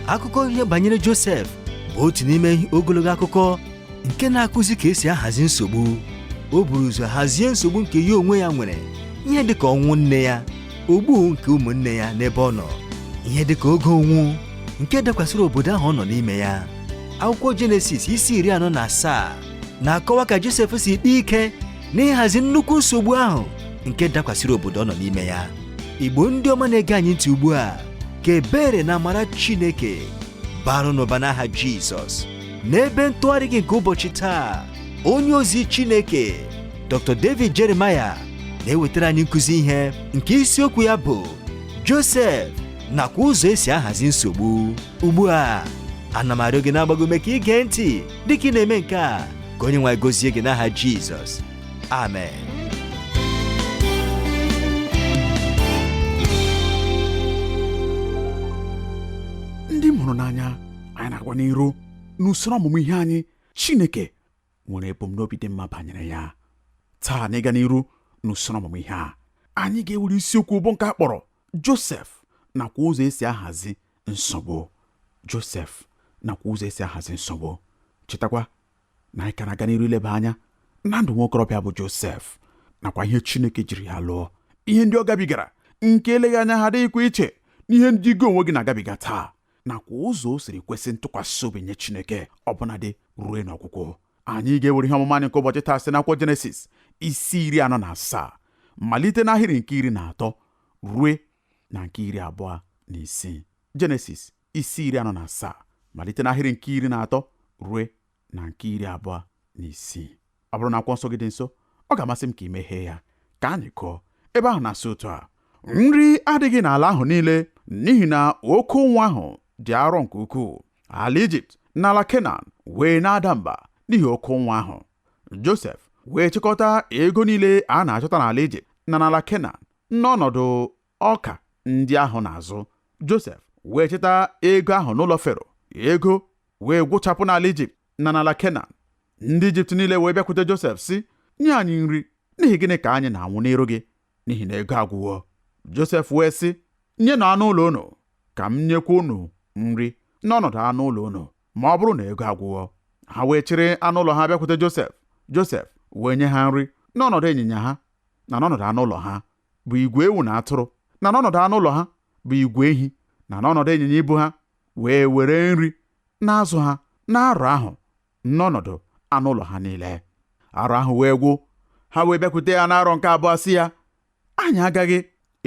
akụkọ ihe banyere Josef bụ otu n'ime ogologo akụkọ nke na-akụzi ka esi ahazi nsogbu o buru ụzọ hazie nsogbu nke ya onwe ya nwere ihe dịka ọnwụ nne ya ogbu nke ụmụnne ya n'ebe ọ nọ ihe dịka oke ụnwụ nke dakwasịrị obodo ahụ ọ nọ n'ime ya akwụkwọ Jenesis isi iri anọ na asaa na-akọwa ka Josef si kpaa ike n'ịhazi nnukwu nsogbu ahụ nke dakwasịrị obodo ọ nọ n'ime ya igbo ndị ọma na-ege anyị ntị ugbu a ka ebere na amara chineke baara unu ụba n'aha jizọs n'ebe ntụgharị gị nke ụbọchị taa onye ozi chineke dr david jeremiah na-ewetara anyị nkụzi ihe nke isiokwu ya bụ josef nakwa ụzọ esi ahazi nsogbu ugbu a ana m arịọ gị na-agba gị ume ka ị gee ntị dịka ị na-eme nke a ka onye nwe anyị gọzie gị n'aha jizọs amen ndị m hụrụ n'anya anyị na-aga n'iru n'usoro ọmụmụ ihe anyị chineke nwere ebumnobi dị mma banyere ya taa n'ịga n'iru n'usoro ọmụmụ ihe a anyị ga-ewere isiokwu bụ nke a kpọrọ josef nakwa ụzọ esi ahazi nsogbu Josef nakwa ụzọ esi ahazi nsogbu chetakwa na anyị ka na-aga n'iru ileba anya na ndụ nwokorobịa bụ Josef nakwa ihe Chineke jiri ya lụọ ihe ndị ọ gabigara nke eleghị anya ha adịghịkwa iche n'ihe ndị gị onwe gị na-agabiga taa nakwa ụzọ o siri kwesị ntụkwasị obi nye Chineke ọbụnadị ruo n'ọgwụgwụ anyị ga-ewere ihe ọmụmụ anyị nke ụbọchị taa site n'akwụkwọ Jenesis isi iri anọ na asaa malite n'ahịrị nke iri na atọ rue na nke iri abụọ na isii jenesis isi iri anọ na asaa malite n'ahịrị nke iri na atọ rue na nke iri abụọ na isii ọ bụrụ na akwụkwọ nsọ gị dị nso ọ ga-amasị m ka ị meghee ya ka anyị gụọ ebe ahụ na-asị otu a nri adịghị n'ala ahụ niile n'ihi na oke ụnwụ ahụ dị arọ nke ukwuu ala ijipt na ala kenan wee na-ada mba n'ihi oke ụnwụ ahụ josef wee chịkọta ego niile a na-achọta n'ala ijipt na n'ala kenan N'ọnọdụ ọka ndị ahụ na-azụ, Josef wee chịta ego ahụ n'ụlọ Fero, ego wee gwụchapụ n'ala Ijipt na n'ala Kenan. Ndị Ijipt niile wee bịakwute Josef sị, nye anyị nri, n'ihi gịnị ka anyị na-anwụ n'iru gị? N'ihi na ego agwụwo. Josef wee sị, nyenụ anụ ụlọ unu ka m nyekwa unu nri n'ọnọdụ anụ ụlọ unu ma ọ bụrụ na ego agwụwo. Ha wee chịrị anụ ụlọ ha bịakwute Josef, Josef wee nye ha nri n'ọnọdụ ịnyịnya ha na n'ọnọdụ anụ ụlọ ha bụ igwe ewu na atụrụ na n'ọnọdụ anụ ụlọ ha bụ igwe ehi na n'ọnọdụ ịnyịnya ibu ha wee were nri na-azụ ha n'arọ ahụ n'ọnọdụ anụ ụlọ ha niile arọ ahụ wee gwụ ha wee bịakwute ya n'arọ nke abụọ sị ya anyị agaghị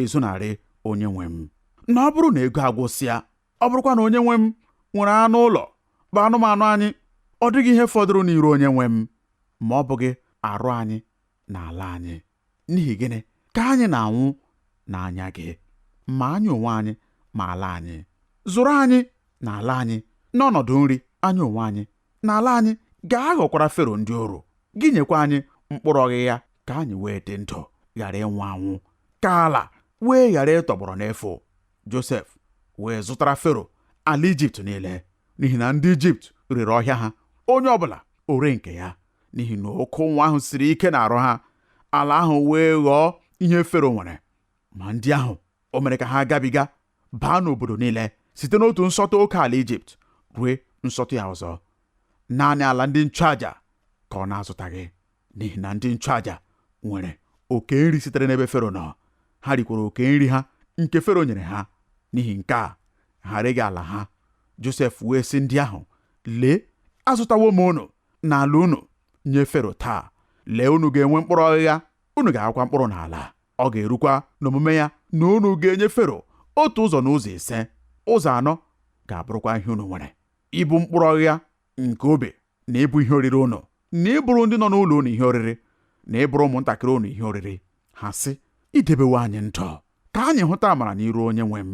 ezonarị onye nwe m na ọ bụrụ na ego agwụsịa ọ bụrụkwa na onye nwe m nwere anụ ụlọ bụ anụmanụ anyị ọ dịghị ihe fọdụrụ n'iru onye nwe m ma ọ bụghị arụ anyị na ala anyị n'ihi gịnị ka anyị na-anwụ n'anya gị ma anyị onwe anyị ma ala anyị zụrụ anyị na ala anyị n'ọnọdụ nri anyị onwe anyị na ala anyị ga-aghọkwara fero ndị oru gị nyekwa anyị mkpụrụ ọghịgha ka anyị wee dị ndụ ghara ịnwụ anwụ ka ala wee ghara ịtọgbọrọ n'efu josef wee zụtara fero ala ijipt niile n'ihi na ndị ijipt rere ọhịa ha onye ọbụla o ree nke ya n'ihi na oke ụnwụ ahụ siri ike n'arụ ha ala ahụ wee ghọọ ihe fero nwere ma ndị ahụ o mere ka ha gabiga baa n'obodo niile site n'otu nsọtụ oke ala ijipt rue nsọtụ ya ọzọ naanị ala ndị nchụaja ka ọ na-azụtaghị n'ihi na ndị nchụaja nwere oke nri sitere n'ebe fero nọ ha rikwara oke nri ha nke fero nyere ha n'ihi nke a ha reghị ala ha josef wee sị ndị ahụ lee azụtawo m unu na ala unu nye Fero taa lee unu ga-enwe mkpụrụ ọghịgha unu ga-akụkwa mkpụrụ n'ala ọ ga-erukwa n'omume ya na unu ga-enye Fero otu ụzọ n'ụzọ ise ụzọ anọ ga-abụrụkwa ihe unu nwere ịbụ mkpụrụ ọghịgha nke ubi na ịbụ ihe oriri unu na ịbụrụ ndị nọ n'ụlọ unu ihe oriri na ịbụrụ ụmụntakịrị unu ihe oriri ha sị i debewo anyị ndụ ka anyị hụta amara n'iru onye nwe m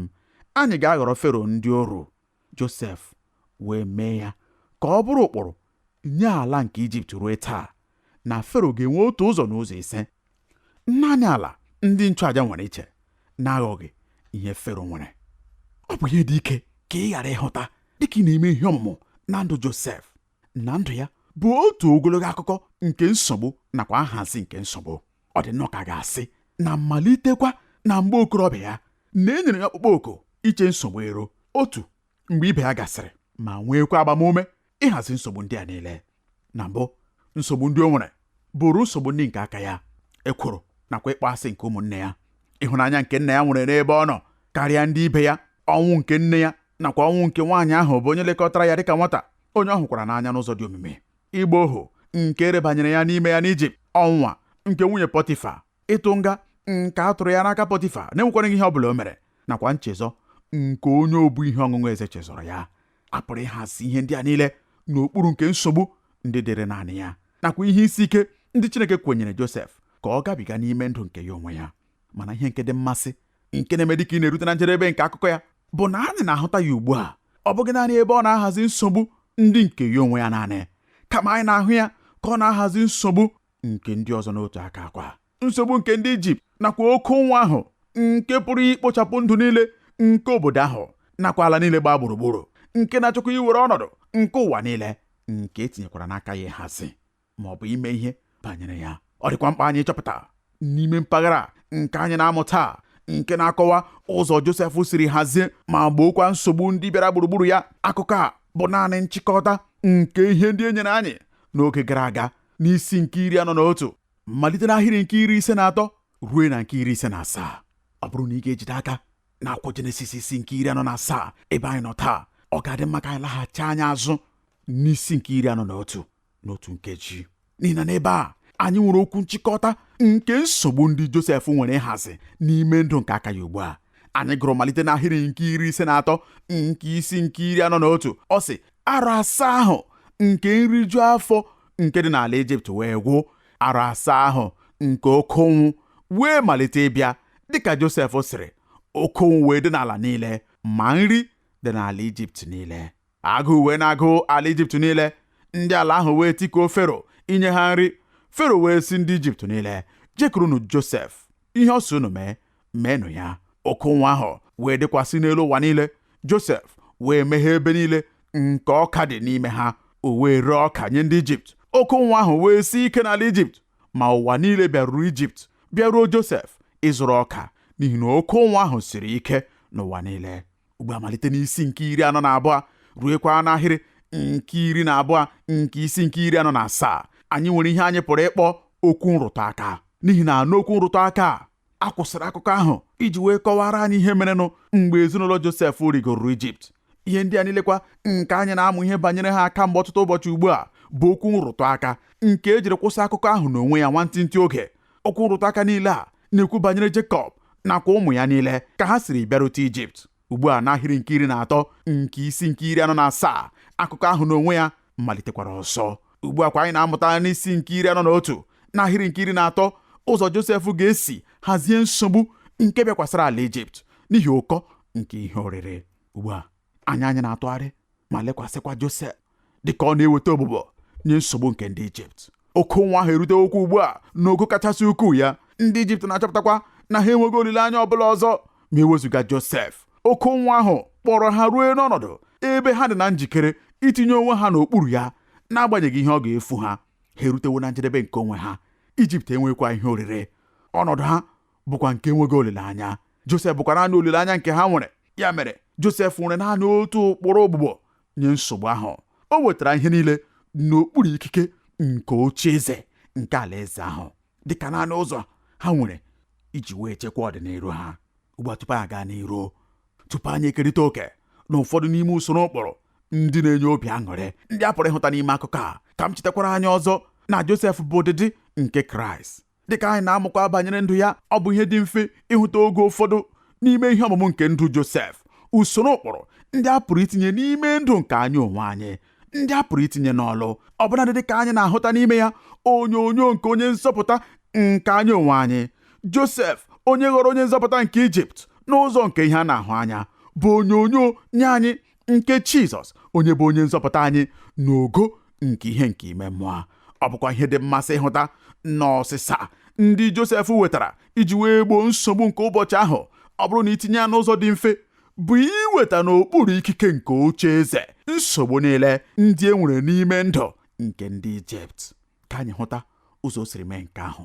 anyị ga-aghọrọ fero ndị oru Josef wee mee ya ka ọ bụrụ ụkpụrụ nye ala nke Ijipt ruo taa na Fero ga-enwe otu ụzọ n'ụzọ ise naanị ala ndị nchụaja nwere iche na-aghọghị ihe Fero nwere ọ bụ ihe dị ike ka ị ghara ịhụta dịka ị na-eme ihe ọmụmụ na ndụ Josef na ndụ ya bụ otu ogologo akụkọ nke nsogbu nakwa nhazi nke nsogbu ọ dị nnọọ ka a ga-asị na malitekwa na mgbe okorobịa ya na e nyere ya ọkpụkpọ oku iche nsogbu iru otu mgbe ibe ya gasịrị ma nweekwa agbamume ịhazi nsogbu ndị a niile na mbụ nsogbu ndị o nwere bụrụ nsogbu ndị nke aka ya ekworo nakwa ịkpọasị nke ụmụnne ya ịhụnanya nke nna ya nwere n'ebe ọ nọ karịa ndị ibe ya ọnwụ nke nne ya nakwa ọnwụ nke nwaanyị ahụ bụ onye lekọtara ya dịka nwata onye ọ hụkwara n'anya n'ụzọ dị omimi ịgba ohu nke erebanyere ya n'ime ya n'Ijipt ọnwa nke nwunye Pọtifa ịtụ nga nke a tụrụ ya n'aka Pọtifa na-enwekwaghị ihe ọ bụla o mere nakwa nchezọ nke onye obu ihe ọṅụṅụ eze chezọrọ ya a pụrụ ịhazi ihe ndị a niile n'okpuru nke nsogbu ndị dịrị naanị ya nakwa ihe isi ike ndị Chineke kwenyere Josef ka ọ gabiga n'ime ndụ nke ya onwe ya mana ihe nke dị mmasị nke na-eme dịka ị na-erute na njedebe nke akụkọ ya bụ na anyị na-ahụta ya ugbu a ọ bụghị naanị ebe ọ na-ahazi nsogbu ndị nke ya onwe ya naanị kama anyị na-ahụ ya ka ọ na-ahazi nsogbu nke ndị ọzọ n'otu aka a kwa nsogbu nke ndị ijipt nakwa oke ụnwụ ahụ nke pụrụ ikpochapụ ndụ niile nke obodo ahụ nakwa ala niile gbaa gburugburu nke na-achọkwa iwere ọnọdụ nke ụwa niile nke etinyekwara n'aka ya ịhazi ma ọ bụ ime ihe banyere ya ọ dịkwa mkpa anyị ịchọpụta n'ime mpaghara nke anyị na-amụ taa nke na-akọwa ụzọ Josef siri hazie ma gbookwa nsogbu ndị bịara gburugburu ya akụkọ a bụ naanị nchịkọta nke ihe ndị e nyere anyị n'oge gara aga n'isi nke iri anọ na otu malite n'ahịrị nke iri ise na atọ ruo na nke iri ise na asaa ọ bụrụ na ị ga-ejide aka n'akwụkwọ jenesis isi nke iri anọ na asaa ebe anyị nọ taa ọ ga-adị mma ka anyị laghachi anya azụ n'isi nke iri anọ na otu n'otu nkeji n'ihi na n'ebe a anyị nwere okwu nchịkọta nke nsogbu ndị Josef nwere ịhazi n'ime ndụ nke aka ya ugbu a anyị gụrụ malite n'ahịrị nke iri ise na atọ nke isi nke iri anọ na otu ọ sị arọ asaa ahụ nke nriju afọ nke dị n'ala Ijipt wee gwụ arọ asaa ahụ nke oke ụnwụ wee malite ịbịa dịka Josef sịrị oke ụnwụ wee dị n'ala niile ma nri dị n'ala Ijipt niile agụụ wee na-agụ ala ijipt niile ndị ala ahụ wee tikuo fero inye ha nri fero wee sị ndị ijipt niile jekurunu josef ihe ọ sị unu mee meenụ ya oke ụnwụ ahụ wee dịkwasị n'elu ụwa niile josef wee meghee ebe niile nke ọka dị n'ime ha o wee ree ọka nye ndị ijipt oke ụnwụ ahụ wee sie ike n'ala ijipt ma ụwa niile bịaruru ijipt bịaruo josef ịzụrụ ọka n'ihi na oke ụnwụ ahụ siri ike n'ụwa niile ugbu a malite n'isi nke iri anọ na abụọ ruekwa n'ahịrị nke iri na abụọ nke isi nke iri anọ na asaa anyị nwere ihe anyị pụrụ ịkpọ okwu nrụtụ aka n'ihi na n'okwu nrụtụ aka a kwụsịrị akụkọ ahụ iji wee kọwara anyị ihe merenụ mgbe ezinụlọ Josef rigoro Ijipt ihe ndị a niilekwa nke anyị na-amụ ihe banyere ha aka mgbe ọtụtụ ụbọchị ugbu a bụ okwu nrụtụ aka nke ejiri kwụsị akụkọ ahụ n'onwe ya nwantịntị oge okwu nrụtụ aka niile a na-ekwu banyere Jekọb nakwa ụmụ ya niile ka ha siri bịarute Ijipt ugbu a n'ahịrị nke iri na atọ nke isi nke iri anọ na asaa akụkọ ahụ n'onwe ya malitekwara ọzọ ugbu a kwa anyị na-amụta n'isi nke iri anọ na otu n'ahịrị nke iri na atọ ụzọ Josef ga-esi hazie nsogbu nke bịakwasara ala Ijipt n'ihi ụkọ nke ihe oriri ugbu a anya anyị na-atụgharị ma lekwasịkwa Josef dịka ọ na-eweta ogbugbo nye nsogbu nke ndị Ijipt oke ụnwụ ahụ erutewokwa ugbu a n'ogo kachasị ukwuu ya ndị Ijipt na-achọpụtakwa na ha enweghị olileanya ọ bụla ọzọ ma ewezuga Josef oke ụnwụ ahụ kpọrọ ha ruo n'ọnọdụ ebe ha dị na njikere itinye onwe ha n'okpuru ya n'agbanyeghị ihe ọ ga-efu ha ha erutewo na njedebe nke onwe ha Ijipt enwekwa ihe oriri ọnọdụ ha bụkwa nke enweghị olileanya Josef bụkwa naanị olileanya nke ha nwere ya mere Josef nwere naanị otu ụkpụrụ ogbugbo nye nsogbu ahụ o wetara ihe niile n'okpuru ikike nke oche eze nke alaeze ahụ dịka naanị ụzọ ha nwere iji wee chekwa ọdịniru ha ugbu a tupu anyị gaa n'iru tupu anyị ekerịta oke na ụfọdụ n'ime usoro ụkpụrụ ndị na-enye obi aṅụrị ndị a pụrụ ịhụta n'ime akụkọ a ka m chetakwara anyị ọzọ na Josef bụ ụdịdị nke Kraịst dịka anyị na-amụkwa banyere ndụ ya ọ bụ ihe dị mfe ịhụta oge ụfọdụ n'ime ihe ọmụmụ nke ndụ Josef usoro ụkpụrụ ndị a pụrụ itinye n'ime ndụ nke anyị onwe anyị ndị a pụrụ itinye n'ọlụ ọbụnadị dịka anyị na-ahụta n'ime ya onyonyo nke onye nzọpụta nke anyị onwe anyị Josef onye ghọrọ onye nzọpụta nke Ijipt n'ụzọ nke ihe a na-ahụ anya bụ onyonyo nye anyị nke Jizọs onye bụ onye nzọpụta anyị n'ogo nke ihe nke ime mmụọ ọ bụkwa ihe dị mmasị ịhụta na ọsịsa ndị Josef wetara iji wee gboo nsogbu nke ụbọchị ahụ ọ bụrụ na i tinye ya n'ụzọ dị mfe bụ iweta n'okpuru ikike nke oche eze nsogbu niile ndị e nwere n'ime ndụ nke ndị Ijipt ka anyị hụta ụzọ o siri mee nke ahụ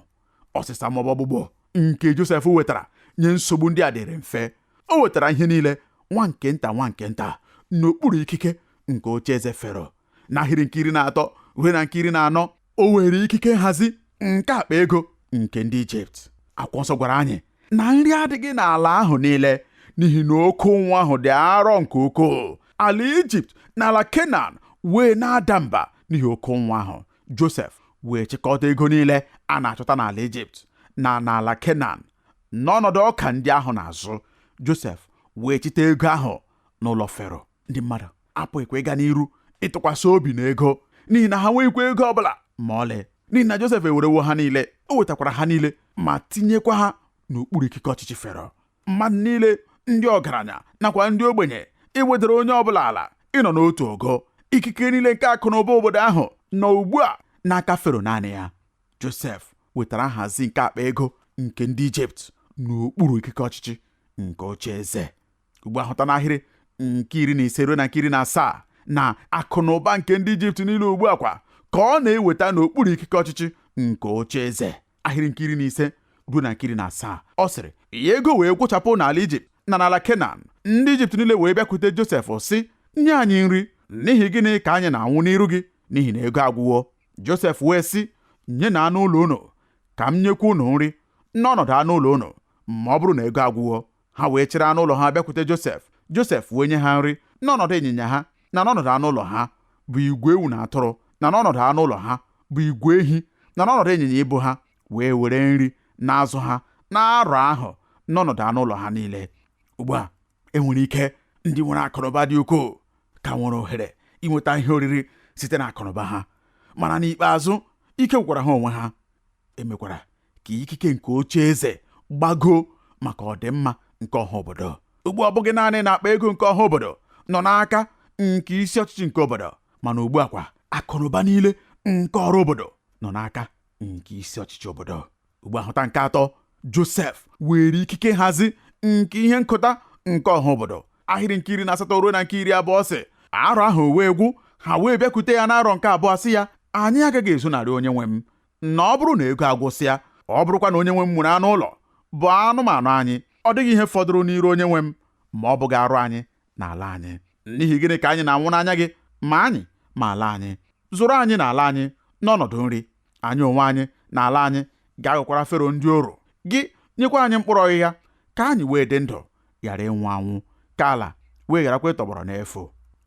ọsịsa maọbụ ogbugbo nke Josef wetara nye nsogbu ndị a dịrị mfe o wetara ihe niile nwa nke nta nwa nke nta n'okpuru ikike nke oche eze fero n'ahịrị nke iri na atọ ruo na nke iri na anọ o weere ikike nhazi nke akpa ego nke ndị ijipt akwụkwọ nsọ gwara anyị na nri adịghị n'ala ahụ niile n'ihi na oke ụnwụ ahụ dị arọ nke ukwuu ala ijipt na ala kenan wee na-ada mba n'ihi oke ụnwụ ahụ Josef wee chịkọta ego niile a na-achọta n'ala Ijipt na n'ala Kenan n'ọnọdụ ọka ndị ahụ na-azụ Josef wee chịta ego ahụ n'ụlọ Fero ndị mmadụ apụghịkwa ịga n'iru ịtụkwasị obi na ego n'ihi na ha nweghịkwa ego ọ bụla ma ọlị n'ihi na Josef ewerewo ha niile o wetakwara ha niile ma tinyekwa ha n'okpuru ikike ọchịchị Fero mmadụ niile ndị ọgaranya nakwa ndị ogbenye e wedara onye ọbụla ala ịnọ n'otu ogo ikike niile nke akụ na ụba obodo ahụ nọ ugbu a n'aka fero naanị ya josef wetara nhazi nke akpa ego nke ndị ijipt n'okpuru ikike ọchịchị nke oche eze ugbu a hụta n'ahịrị nke iri na ise ruo na nke iri na asaa na akụ na ụba nke ndị ijipt niile ugbu a kwa ka ọ na-eweta n'okpuru ikike ọchịchị nke oche eze ahịrị nke iri na ise ruo na nke iri na asaa ọ sịrị ya ego wee gwụchapụ n'ala ijipt na n'ala kenan ndị ijipt niile wee bịakwute josef sị nye anyị nri n'ihi gịnị ka anyị na-anwụ n'iru gị n'ihi na ego agwụwo josef wee sị nyenụ anụ ụlọ unu ka m nyekwa unu nri n'ọnọdụ anụ ụlọ unu ma ọ bụrụ na ego agwụwo ha wee chịrị anụ ụlọ ha bịakwute Josef Josef wee nye ha nri n'ọnọdụ ịnyịnya ha na n'ọnọdụ anụ ụlọ ha bụ igwe ewu na atụrụ na n'ọnọdụ anụ ụlọ ha bụ igwe ehi na n'ọnọdụ ịnyịnya ibu ha wee were nri na-azụ ha n'arọ ahụ n'ọnọdụ anụ ụlọ ha niile ugbu a enwere ike ndị nwere akụnụba dị ukwuu ka nwere ohere inweta ihe oriri site na akụnụba ha mana n'ikpeazụ ike gwụkwara ha onwe ha emekwara ka ikike nke oche eze gbagoo maka ọdịmma nke ọha obodo ugbu a ọ bụghị naanị na akpa ego nke ọha obodo nọ n'aka nke isi ọchịchị nke obodo mana ugbu a kwa akụnụba niile nke ọrụ obodo nọ n'aka nke isi ọchịchị obodo ugbu a hụta nke atọ Josef were ikike nhazi nke ihe nkọta nke ọha obodo ahịrị nke iri na asatọ ruo na nke iri abụọ sị arọ ahụ wee gwụ ha wee bịakwute ya n'arọ nke abụọ sị ya anyị agaghị ezonarị onye nwe m na ọ bụrụ na ego agwụsịa ọ bụrụkwa na onye nwe m nwere anụ ụlọ bụ anụmanụ anyị ọ dịghị ihe fọdụrụ n'iru onye nwe m ma ọ bụghị arụ anyị na ala anyị n'ihi gịnị ka anyị na-anwụ n'anya gị ma anyị ma ala anyị zụrụ anyị na ala anyị n'ọnọdụ nri anyị onwe anyị na ala anyị ga-aghọkwara fero ndị oru gị nyekwa anyị mkpụrụ ọghịgha ka anyị wee dị ndụ ghara ịnwụ anwụ ka ala wee gharakwa ịtọgbọrọ n'efu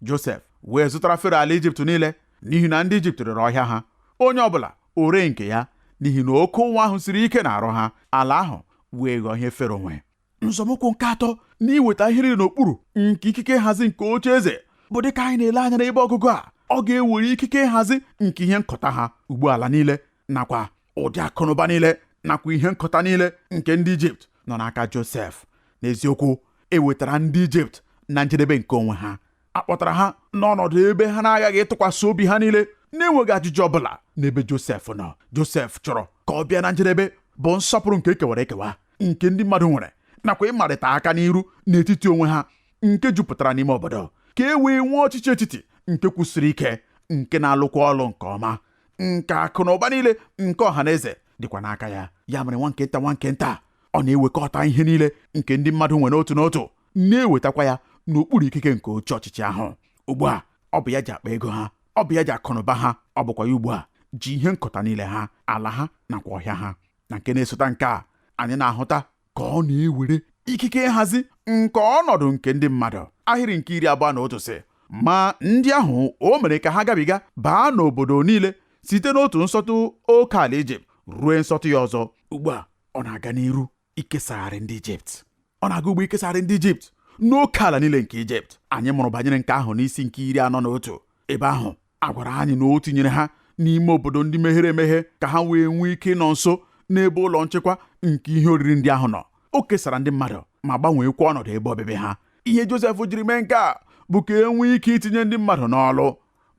Josef wee zụtara Fero ala Ijipt niile n'ihi na ndị Ijipt rere ọhịa ha onye ọbụla o ree nke ya n'ihi na oke ụnwụ ahụ siri ike n'arụ ha ala ahụ wee ghọọ ihe Fero nwe nzọmụkwụ nke atọ n'iweta ihe niile n'okpuru nke ikike nhazi nke oche eze bụ dịka anyị na-ele anya n'ebe ọgụgụ a ọ ga-ewere ikike nhazi nke ihe nkọta ha ugbu a ala niile nakwa ụdị akụnụba niile nakwa ihe nkọta niile nke ndị ijipt nọ n'aka josef n'eziokwu ewetara ndị ijipt na njedebe nke onwe ha a kpọtara ha n'ọnọdụ ebe ha na-aghaghị ịtụkwasị obi ha niile na-enweghị ajụjụ ọ bụla n'ebe josef nọ josef chọrọ ka ọ bịa na njedebe bụ nsọpụrụ nke ekewara ekewa nke ndị mmadụ nwere nakwa ịmarịta aka n'iru n'etiti onwe ha nke jupụtara n'ime obodo ka e wee nwee ọchịchị etiti nke kwụsiri ike nke na-alụkwa ọlụ nke ọma nke akụ na ụba niile nke ọha na eze dịkwa n'aka ya ya mere nwa nke nta nwa nke nta ọ na-ewekọta ihe niile nke ndị mmadụ nwere otu n'otu na-ewetakwa ya n'okpuru ikike nke oche ọchịchị ahụ ugbu a ọ bụ ya ji akpa ego ha ọ bụ ya ji akụnụba ha ọ bụkwa ya ugbu a ji ihe nkọta niile ha ala ha nakwa ọhịa ha na nke na-esota nke a anyị na-ahụta ka ọ na-ewere ikike nhazi nke ọnọdụ nke ndị mmadụ ahịrị nke iri abụọ na otu sị ma ndị ahụ o mere ka ha gabiga baa n'obodo niile site n'otu nsọtụ oke ala ijipt ruo nsọtụ ya ọzọ ugbu a ọ na-aga n'iru ikesagharị ndị ijipt ọ na-aga ugbu a ikesagharị ndị ijipt n'oke ala niile nke ijipt anyị mụrụ banyere nke ahụ n'isi nke iri anọ na otu ebe ahụ a gwara anyị na o tinyere ha n'ime obodo ndị meghere emeghe ka ha wee nwee ike ịnọ nso n'ebe ụlọ nchekwa nke ihe oriri ndị ahụ nọ o kesara ndị mmadụ ma gbanweekwa ọnọdụ ebe obibi ha ihe Josef jiri mee nke a bụ ka e nwee ike itinye ndị mmadụ n'ọlụ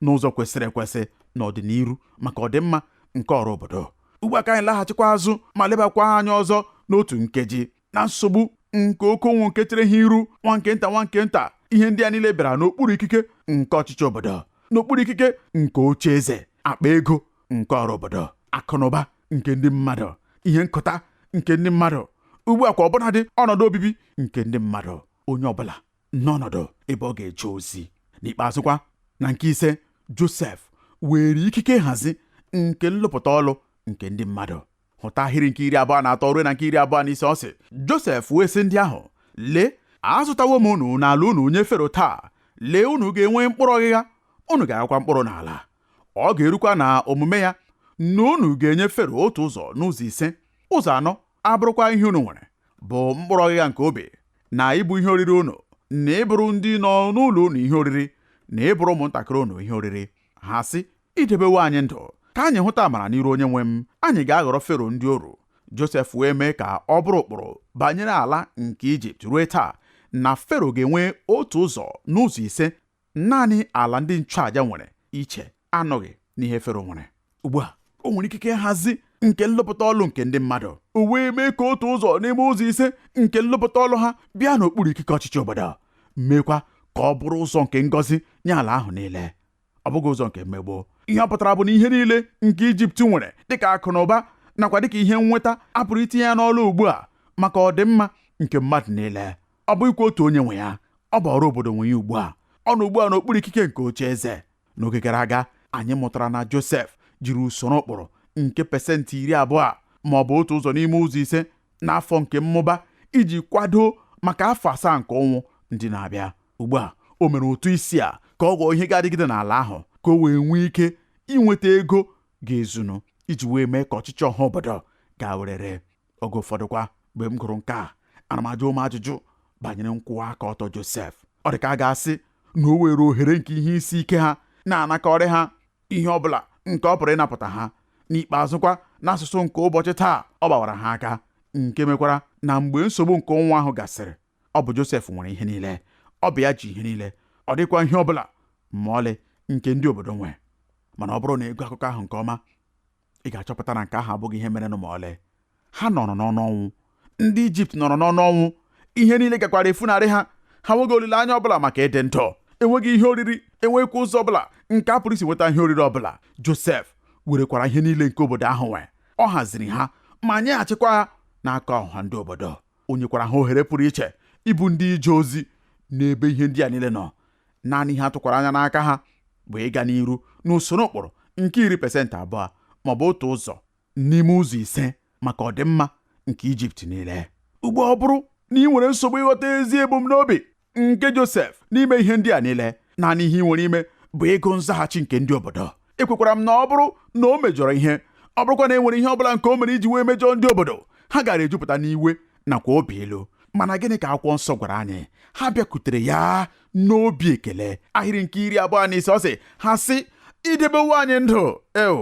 n'ụzọ kwesịrị ekwesị n'ọdịniru maka ọdịmma nke ọra obodo ugbu a ka anyị laghachikwa azụ ma lebakwa anya ọzọ n'otu nkeji na nsogbu nke oke ụnwụ nke chere ha iru nwa nke nta nwa nke nta ihe ndị a niile bịara n'okpuru ikike nke ọchịchị obodo n'okpuru ikike nke oche eze akpa ego nke ọra obodo akụnụba nke ndị mmadụ ihe nkụta nke ndị mmadụ ugbu a kwa ọbụnadị ọnọdụ obibi nke ndị mmadụ onye ọbụla n'ọnọdụ ebe ọ ga-eje ozi n'ikpeazụkwa na nke ise Josef weere ikike nhazi nke nlụpụta ọlụ nke ndị mmadụ hụta ahịrị nke iri abụọ na atọ ruo na nke iri abụọ na ise ọ sị Josef wee sị ndị ahụ lee azụtawo m unu na ala unu nye Fero taa lee unu ga-enwe mkpụrụ ọghịgha unu ga-aghakwa mkpụrụ n'ala ọ ga-erukwa na omume ya na unu ga-enye Fero otu ụzọ n'ụzọ ise ụzọ anọ abụrụkwa ihe unu nwere bụ mkpụrụ ọghịgha nke ubi na ịbụ ihe oriri unu na ịbụrụ ndị nọ n'ụlọ unu ihe oriri na ịbụrụ ụmụntakịrị unu ihe oriri ha sị i debewo anyị ndụ ka anyị hụta amara n'iru onye nwe m anyị ga-aghọrọ fero ndị oru josef wee mee ka ọ bụrụ ụkpụrụ banyere ala nke ijipt ruo taa na fero ga-enwe otu ụzọ n'ụzọ ise naanị ala ndị nchụaja nwere iche anọghị n'ihe fero nwere ugbu a o nwere ikike nhazi nke nlụpụta ọlụ nke ndị mmadụ o wee mee ka otu ụzọ n'ime ụzọ ise nke nlụpụta ọlụ ha bịa n'okpuru ikike ọchịchị obodo meekwa ka ọ bụrụ ụzọ nke ngọzi nye ala ahụ niile ọ bụghị ụzọ nke mmegbu ihe ọ pụtara bụ na ihe niile nke ijipt nwere dịka akụ na ụba nakwa dịka ihe nnweta a pụrụ itinye ya n'ọlụ ugbu a maka ọdịmma nke mmadụ niile ọ bụghịkwa otu onye nwe ya ọ bụ ọra obodo nwe ya ugbu a ọ nọ ugbu a n'okpuru ikike nke oche eze n'oge gara aga anyị mụtara na josef jiri usoro ụkpụrụ nke pesentị iri abụọ ma ọ bụ otu ụzọ n'ime ụzọ ise n'afọ nke mmụba iji kwado maka afọ asaa nke ụnwụ ndị na-abịa Ugbu a, o mere ụtụ isi a ka ọ ghọọ ihe ga-adịgide n'ala ahụ ka o wee nwee ike inweta ego ga-ezunu iji wee mee ka ọchịchị ọha obodo gaa werere. Oge ụfọdụkwa mgbe m gụrụ nke a, ana m ajụ onwe m ajụjụ banyere nkwụwa aka ọtọ Josef. Ọ dị ka a ga-asị na o weere ohere nke ihe isi ike ha na-anakọrị ha ihe ọ bụla nke ọ pụrụ ịnapụta ha. N'ikpeazụkwa, n'asụsụ nke ụbọchị taa, ọ gbawara ha aka, nke mekwara na mgbe nsogbu nke ụnwụ ahụ gasịrị, ọ bụ Josef nwere ihe niile ọ bụ ya ji ihe niile ọ dịghịkwa ihe ọ bụla ma ọlị nke ndị obodo nwe mana ọ bụrụ na ị gụọ akụkọ ahụ nke ọma ị ga-achọpụta na nke ahụ abụghị ihe merenụ ma ọlị ha nọrọ n'ọnụ ọnwụ ndị ijipt nọrọ n'ọnụ ọnwụ ihe niile gakwara efunarị ha ha nweghị olileanya ọbụla maka ịdị ndụ enweghị ihe oriri enweghịkwa ụzọ ọbụla nke a pụrụ isi nweta ihe oriri ọbụla josef werekwara ihe niile nke obodo ahụ nwe ọ haziri ha ma nyeghachikwa ha n'aka ọha ndị obodo o nyekwara ha ohere pụrụ iche ịbụ ndị ije ozi n'ebe ihe ndị a niile nọ naanị ihe a tụkwara anya n'aka ha bụ ịga n'iru n'usoro ụkpụrụ nke iri pesentị abụọ ma ọ bụ otu ụzọ n'ime ụzọ ise maka ọdịmma nke Ijipt niile ugbu a ọ bụrụ na i nwere nsogbu ịghọta ezi ebumnobi nke Josef n'ime ihe ndị a niile naanị ihe i nwere ime bụ ịgụ nzaghachi nke ndị obodo ekwekwara m na ọ bụrụ na o mejọrọ ihe ọ bụrụkwa na e nwere ihe ọ bụla nke o mere iji wee mejọọ ndị obodo ha gaara ejupụta n'iwe nakwa obi ilu mana gịnị ka akwụkwọ nsọ gwara anyị ha bịakwutere ya n'obi ekele ahịrị nke iri abụọ na ise ọ sị ha sị i debewo anyị ndụ eo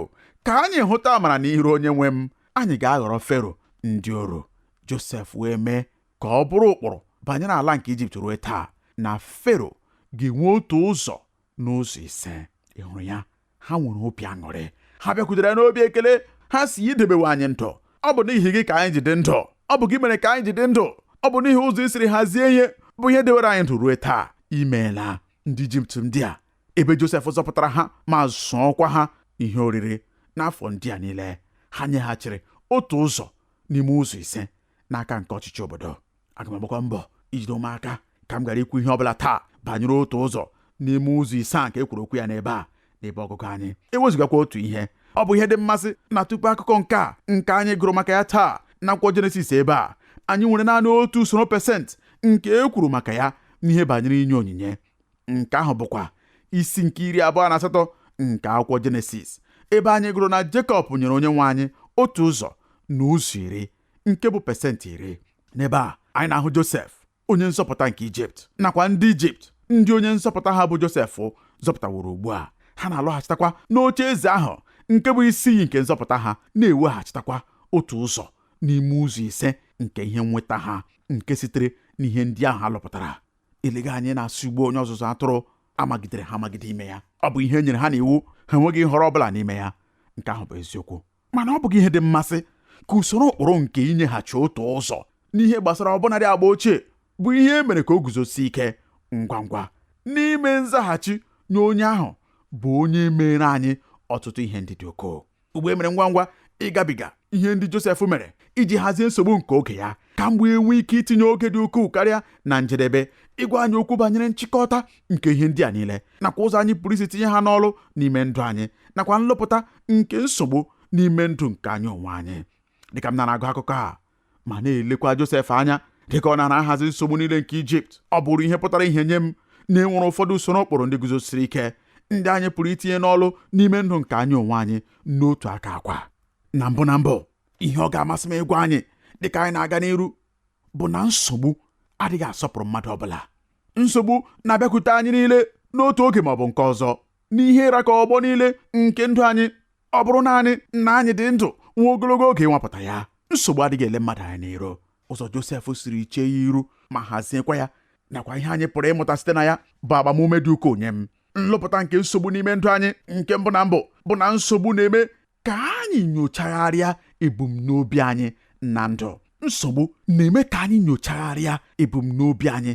ka anyị hụta amara n'iru onye nwe m anyị ga-aghọrọ fero ndị oru josef wee mee ka ọ bụrụ ụkpụrụ banyere ala nke ijipt ruo taa na fero ga-enwe otu ụzọ n'ụzọ ise ị hụrụ ya ha nwere obi aṅụrị ha bịakwutere ya n'obi ekele ha sị i debewo anyị ndụ ọ bụ n'ihi gị ka anyị ji dị ndụ ọ bụ gị mere ka anyị ji dị ndụ ọ bụ n'ihi ụzọ i siri hazie ihe bụ ihe dewere anyị ndụ ruo taa imeela ndị ijipt ndị a ebe josef zọpụtara ha ma zụọkwa ha ihe oriri n'afọ ndị a niile ha nyeghachiri otu ụzọ n'ime ụzọ ise n'aka nke ọchịchị obodo aga m agbakwa mbọ ijide onwe m aka ka m ghara ikwu ihe ọbụla taa banyere otu ụzọ n'ime ụzọ ise a nke e kwuru okwu ya n'ebe a n'ebe ọgụgụ anyị ewezugakwa otu ihe ọ bụ ihe dị mmasị na tupu akụkọ nke a nke anyị gụrụ maka ya taa n'akwụkwọ jenesis ebe a anyị nwere naanị otu usoro pesentị nke e kwuru maka ya n'ihe banyere inye onyinye nke ahụ bụkwa isi nke iri abụọ na asatọ nke akwụkwọ jenesis ebe anyị gụrụ na jekọb nyere onye nwe anyị otu ụzọ n'ụzọ iri nke bụ pesentị iri n'ebe a anyị na-ahụ josef onye nzọpụta nke ijipt nakwa ndị ijipt ndị onye nzọpụta ha bụ josef zọpụtaworo ugbu a ha na-alọghachitakwa n'oche eze ahụ nke bụ isi iyi nke nzọpụta ha na-eweghachitakwa otu ụzọ n'ime ụzọ ise nke ihe nnweta ha nke sitere n'ihe ndị ahụ a lụpụtara eleghị anya ị na-asị ugbu a onye ọzụzụ atụrụ amagidere ha amagide ime ya ọ bụ ihe e nyere ha n'iwu ha enweghị nhọrọ ọ bụla n'ime ya nke ahụ bụ eziokwu mana ọ bụghị ihe dị mmasị ka usoro ụkpụrụ nke inyeghachi otu ụzọ n'ihe gbasara ọbụnadị agba ochie bụ ihe e mere ka o guzosie ike ngwa ngwa n'ime nzaghachi nye onye ahụ bụ onye meere anyị ọtụtụ ihe ndị dị ukwuu ugbu a e mere ngwa ngwa ịgabiga ihe ndị Josef mere iji hazie nsogbu nke oge ya ka m wee nwee ike itinye oge dị ukwuu karịa na njedebe ịgwa anyị okwu banyere nchịkọta nke ihe ndị a niile nakwa ụzọ anyị pụrụ isi tinye ha n'ọlụ n'ime ndụ anyị nakwa nlụpụta nke nsogbu n'ime ndụ nke anyị onwe anyị dịka m na-agụ akụkọ a ma na-elekwa Josef anya dịka ọ nara ahazi nsogbu niile nke Ijipt ọ bụrụ ihe pụtara ìhè nye m na e nwere ụfọdụ usoro ụkpụrụ ndị guzosiri ike ndị anyị pụrụ itinye n'ọlụ n'ime ndụ nke anyị onwe anyị n'otu aka kwa na mbụ na mbụ ihe ọ ga-amasị m ịgwa anyị dịka anyị na-aga n'iru bụ na nsogbu adịghị asọpụrụ mmadụ ọbụla nsogbu na-abịakwute anyị niile n'otu oge ma ọ bụ nke ọzọ n'ihe ra ka ọgbọ niile nke ndụ anyị ọ bụrụ naanị na anyị dị ndụ nwa ogologo oge ịnwapụta ya nsogbu adịghị ele mmadụ anya n'iru ụzọ Josef siri chee ya iru ma haziekwa ya nakwa ihe anyị pụrụ ịmụta site na ya bụ agbamume dị ukwuu nye m nlụpụta nke nsogbu n'ime ndụ anyị nke mbụ na mbụ bụ na nsogbu na-eme ka anyị nyochagharịa ebumnobi anyị na ndụ nsogbu na-eme ka anyị nyochagharịa ebumnobi anyị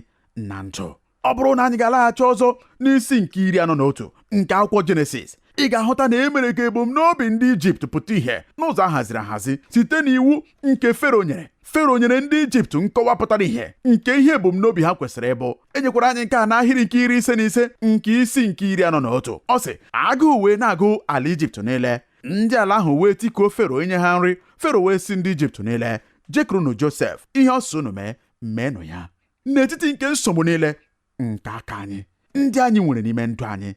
na ndụ ọ bụrụ na anyị ga-alaghachi ọzọ n'isi nke iri anọ na otu nke akwụkwọ jenesis ị ga-ahụta na e mere ka ebumnobi ndị ijipt pụta ìhè n'ụzọ a haziri ahazi site n'iwu nke fero nyere fero nyere ndị ijipt nkọwa pụtara ìhè nke ihe ebumnobi ha kwesịrị ịbụ e nyekwara anyị nke a n'ahịrị nke iri ise na ise nke isi nke iri anọ na otu ọ sị agụụ wee na-agụ ala ijipt niile ndị ala ahụ wee tikuo fero inye ha nri fero wee sị ndị ijipt niile jekurunu josef ihe ọ sị unu mee meenụ ya n'etiti nke nsogbu niile nke aka anyị ndị anyị nwere n'ime ndụ anyị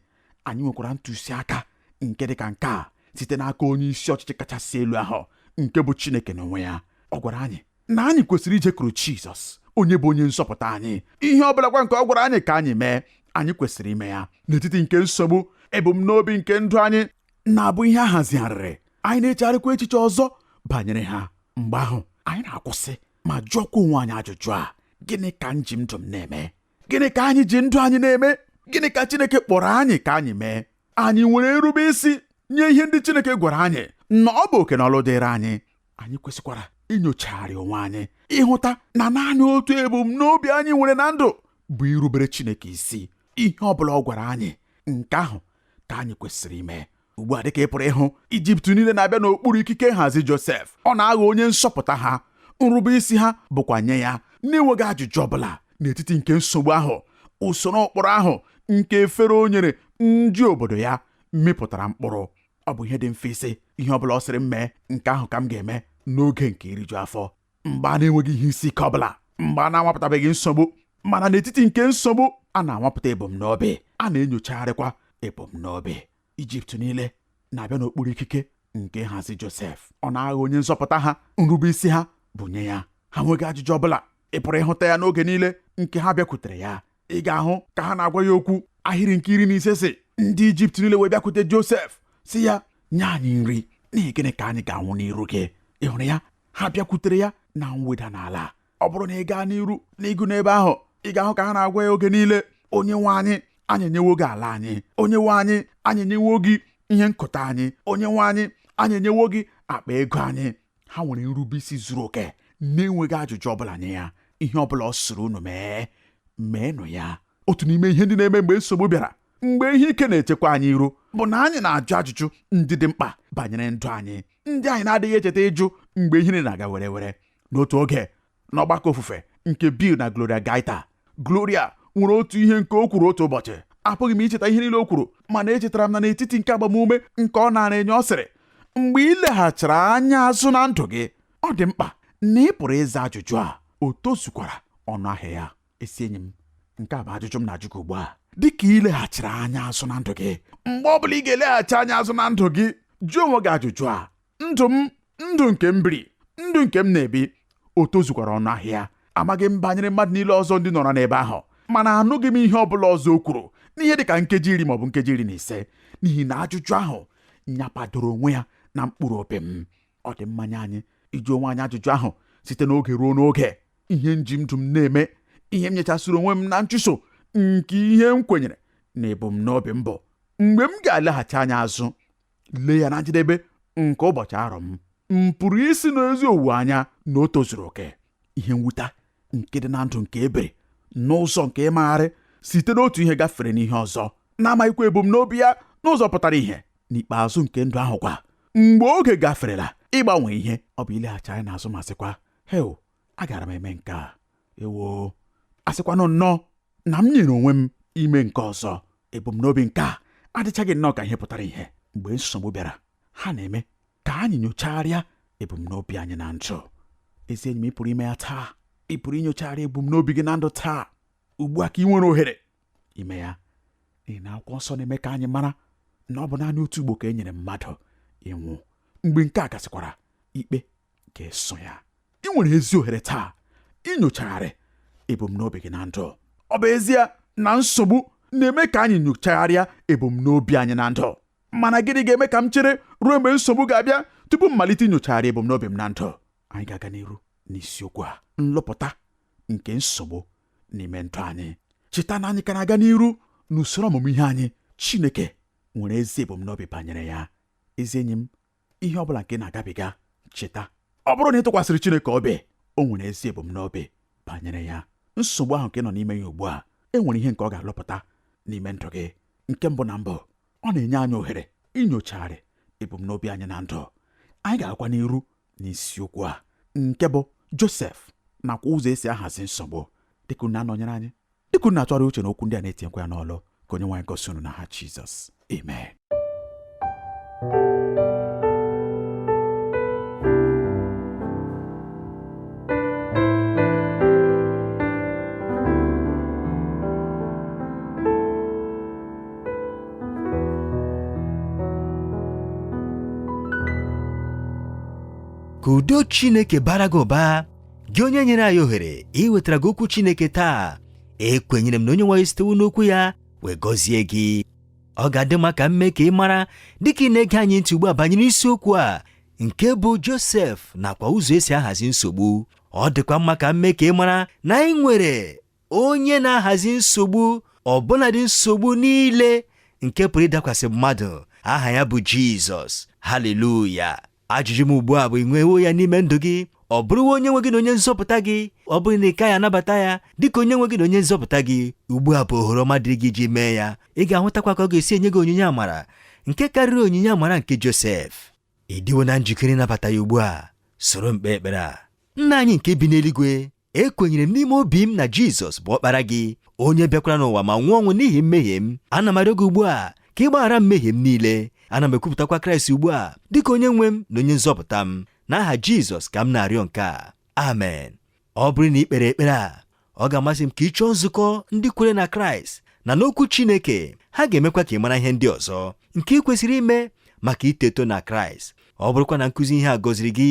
anyị nwekwara ntụziaka nke dị ka nke a site n'aka onye isi ọchịchị kachasị elu ahụ nke bụ Chineke n'onwe ya ọ gwara anyị na anyị kwesịrị ijekuru Jizọs onye bụ onye nzọpụta anyị ihe ọ bụlakwa nke ọ gwara anyị ka anyị mee anyị kwesịrị ime ya n'etiti nke nsogbu ebumnobi nke ndụ anyị na-abụ ihe a hazigharịrị anyị na-echegharịkwa echiche ọzọ banyere ha mgbe ahụ anyị na-akwụsị ma jụọkwa onwe anyị ajụjụ a gịnị ka m ji ndụ m na-eme gịnị ka anyị ji ndụ anyị na-eme gịnị ka Chineke kpọrọ anyị ka anyị mee anyị nwere nrube isi nye ihe ndị Chineke gwara anyị na ọ bụ oke na ọlụ dịịrị anyị anyị kwesịkwara inyochagharị onwe anyị ịhụta na naanị otu ebumnobi anyị nwere na ndụ bụ irubere Chineke isi ihe ọ bụla ọ gwara anyị nke ahụ ka anyị kwesịrị ime ugbu a dịka ị pụrụ ịhụ ijipt niile na-abịa n'okpuru ikike nhazi josef ọ na-aghọ onye nzọpụta ha nrube isi ha bụkwa nye ya na-enweghị ajụjụ ọbụla n'etiti nke nsogbu ahụ usoro ụkpụrụ ahụ nke fero o nyere ndị obodo ya mịpụtara mkpụrụ ọ bụ ihe dị mfe ịsị ihe ọbụla ọ sịrị m mee nke ahụ ka m ga-eme n'oge nke iriju afọ mgbe a na-enweghị ihe isi ike ọbụla mgbe a na-anwapụtabeghị nsogbu mana n'etiti nke nsogbu a na-anwapụta ebumnobi a na-enyochagharịkwa ebumnobi ijipt niile na-abịa n'okpuru ikike nke nhazi josef ọ na-aghọ onye nzọpụta ha nrube isi ha bụ nye ya ha nweghị ajụjụ ọbụla ị pụrụ ịhụta ya n'oge niile nke ha bịakwutere ya ị ga-ahụ ka ha na-agwa ya okwu ahịrị nke iri na ise sị ndị ijipt niile wee bịakwute josef sị ya nye anyị nri n'ihi gịnị ka anyị ga-anwụ n'iru gị ị hụrụ ya ha bịakwutere ya na mweda n'ala ọ bụrụ na ị gaa n'iru n'ịgụ n'ebe ahụ ị ga-ahụ ka ha na-agwa ya oge niile onye nwe anyị anyị enyewo gị ala anyị onye nwe anyị anyị enyewo gị ihe nkụta anyị onye nwe anyị anyị enyewo gị akpa ego anyị ha nwere nrubeisi zuru oke na-enweghị ajụjụ ọbụla nye ya ihe ọbụla ọ sịrị unu mee meenụ ya otu n'ime ihe ndị na-eme mgbe nsogbu bịara mgbe ihe ike na-echekwa anyị iru bụ na anyị na-ajụ ajụjụ ndị dị mkpa banyere ndụ anyị ndị anyị na-adịghị echeta ịjụ mgbe ihe na-aga werewere n'otu oge n'ọgbakọ ofufe nke Bill na Gloria Gaither Gloria nwere otu ihe nke o kwuru otu ụbọchị apụghị m icheta ihe niile o kwuru mana echetara m na n'etiti nke agbamume nke ọ naara enye ọ sịrị mgbe ị leghachiri anya azụ na ndụ gị ọ dị mkpa na ị pụrụ ịza ajụjụ a o tozukwara ọnụ ahịa ya ezi enyi m nke a bụ ajụjụ m na-ajụ gị ugbu a dịka i leghachiri anya azụ na ndụ gị mgbe ọ bụla ị ga-eleghachi anya azụ na ndụ gị jụọ onwe gị ajụjụ a ndụ m ndụ nke m biri ndụ nke m na-ebi o tozukwara ọnụ ahịa amaghị m banyere mmadụ niile ọzọ ndị nọrọ n'ebe ahụ mana anụghị m ihe ọ bụla ọzọ o kwuru n'ihe dị ka nkeji iri maọbụ nkeji iri na ise n'ihi na ajụjụ ahụ nyapadoro onwe ya na mkpụrụ obi m ọ dị mma nye anyị ịjụ onwe anyị ajụjụ ahụ site n'oge ruo n'oge ihe m ji ndụ m na-eme ihe m nyechasịrị onwe m na nchụso nke ihe m kwenyere na ebumnobi m bụ mgbe m ga-eleghachi anya azụ lee ya na njedebe nke ụbọchị arọ m m pụrụ ịsị n'ezi owuwe anya na o tozuru oke ihe mwuta nke dị na ndụ nke e biri n'ụzọ nke ịmagharị site n'otu ihe gafere n'ihe ọzọ na-amaghịkwa ebumnobi ya n'ụzọ pụtara ihe n'ikpeazụ nke ndụ ahụ kwa mgbe oge gaferela ịgbanwe ihe ọ bụ ileghachi anya n'azụ ma sịkwa hee agara m eme nke a ewo asịkwanụ nnọọ na m nyere onwe m ime nke ọzọ ebumnobi nke a adịchaghị nnọọ ka ihe pụtara ihe mgbe nsogbu bịara ha na-eme ka anyị nyochagharịa ebumnobi anyị na ndụ ezi enyi m ị pụrụ ime ya taa ị pụrụ inyochagharị ebumnobi gị na ndụ taa ugbu a ka ị nwere ohere ime ya n'ihi na akwụkwọ nsọ na-eme ka anyị mara na ọ bụ naanị otu ugbo ka e nyere mmadụ ịnwụ mgbe nke a gasịkwara ikpe ga-eso ya ị nwere ezi ohere taa inyochagharị ebumnobi gị na ndụ ọ bụ ezie na nsogbu na-eme ka anyị nyochagharịa ebumnobi anyị na ndụ mana gịnị ga-eme ka m chere ruo mgbe nsogbu ga-abịa tupu m malite inyochagharị ebumnobi m na ndụ anyị ga-aga n'iru n'isiokwu a nlụpụta nke nsogbu n'ime ndụ anyị cheta na anyị ka na-aga n'iru n'usoro ọmụmụ ihe anyị Chineke nwere ezi ebumnobi banyere ya ezi enyi m ihe ọ bụla nke ị na-agabiga cheta ọ bụrụ na ị tụkwasịrị Chineke obi o nwere ezi ebumnobi banyere ya nsogbu ahụ nke ị nọ n'ime ya ugbu a e nwere ihe nke ọ ga-alụpụta n'ime ndụ gị nke mbụ na mbụ ọ na-enye anyị ohere inyochagharị ebumnobi anyị na ndụ anyị ga-agakwa n'iru n'isiokwu a nke bụ Josef nakwa ụzọ esi ahazi nsogbu dịka unu na-anọnyere anyị dịka unu na-atụgharị uche n'okwu ndị a na-etinyekwa ya n'ọlụ ka Onyenwe anyị gọzie unu n'aha Jizọs amen ka udo Chineke bara gị ụba gị onye nyere anyị ohere iwetara gị okwu Chineke taa ekwenyere m na Onyenwe anyị sitewo n'okwu ya wee gọzie gị ọ ga-adị mma ka m mee ka ị mara dịka ị na-ege anyị ntị ugbu a banyere isiokwu a nke bụ Josef nakwa ụzọ esi ahazi nsogbu ọ dịkwa mma ka m mee ka ị mara na anyị nwere onye na-ahazi nsogbu ọbụladị nsogbu niile nke pụrụ ịdakwasị mmadụ aha ya bụ Jizọs haleluya Ajụjụ m ugbu a bụ ị nwewo ya n'ime ndụ gị ọ bụrụwo onye nwe gị na onye nzọpụta gị ọ bụrụ na ị kaghị anabata ya dịka onye nwe gị na onye nzọpụta gị ugbu a bụ ohere ọma dịrị gị iji mee ya ị ga-ahụtakwa ka ọ ga-esi enye gị onyinye amara nke karịrị onyinye amara nke Josef ị dịwo na njikere ịnabata ya ugbu a soro m kpee ekpere a nna anyị nke bi n'eluigwe ekwenyere m n'ime obi m na Jizọs bụ ọkpara gị onye bịakwara n'ụwa ma nwụọ ọnwụ n'ihi mmehie m ana m arịọ gị ugbu a ka ị gbaghara mmehie m niile ana m ekwupụtakwa Kraịst ugbu a dịka onye nwe m na onye nzọpụta m n'aha Jizọs ka m na-arịọ nke a amen ọ bụrụ na ị kpere ekpere a ọ ga-amasị m ka ị chọọ nzukọ ndị kwere na Kraịst na n'okwu Chineke ha ga-emekwa ka ị mara ihe ndị ọzọ nke ị kwesịrị ime maka ito eto na Kraịst ọ bụrụkwa na nkụzi ihe a gọziri gị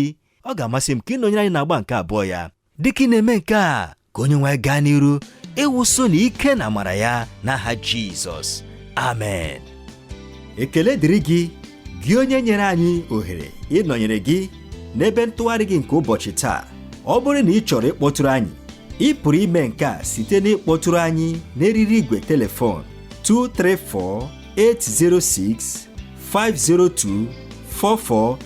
ọ ga-amasị m ka ị nọnyere anyị n'agba nke abụọ ya dịka ị na-eme nke a ka Onyenwe anyị gaa n'iru ịwụso na ike na amara ya n'aha Jizọs amen ekele dịrị gị gị onye nyere anyị ohere ịnọnyere gị n'ebe ntụgharị gị nke ụbọchị taa ọ bụrụ na ị chọrọ ịkpọtụrụ anyị ị pụrụ ime nke a site n'ịkpọtụrụ anyị n'eriri igwe telefon 234 806 502 44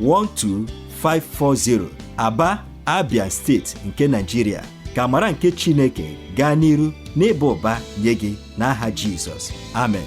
12540 Aba Abia steeti nke Nigeria ka amara nke Chineke gaa n'iru n'ịba ụba nye gị n'aha Jizọs amen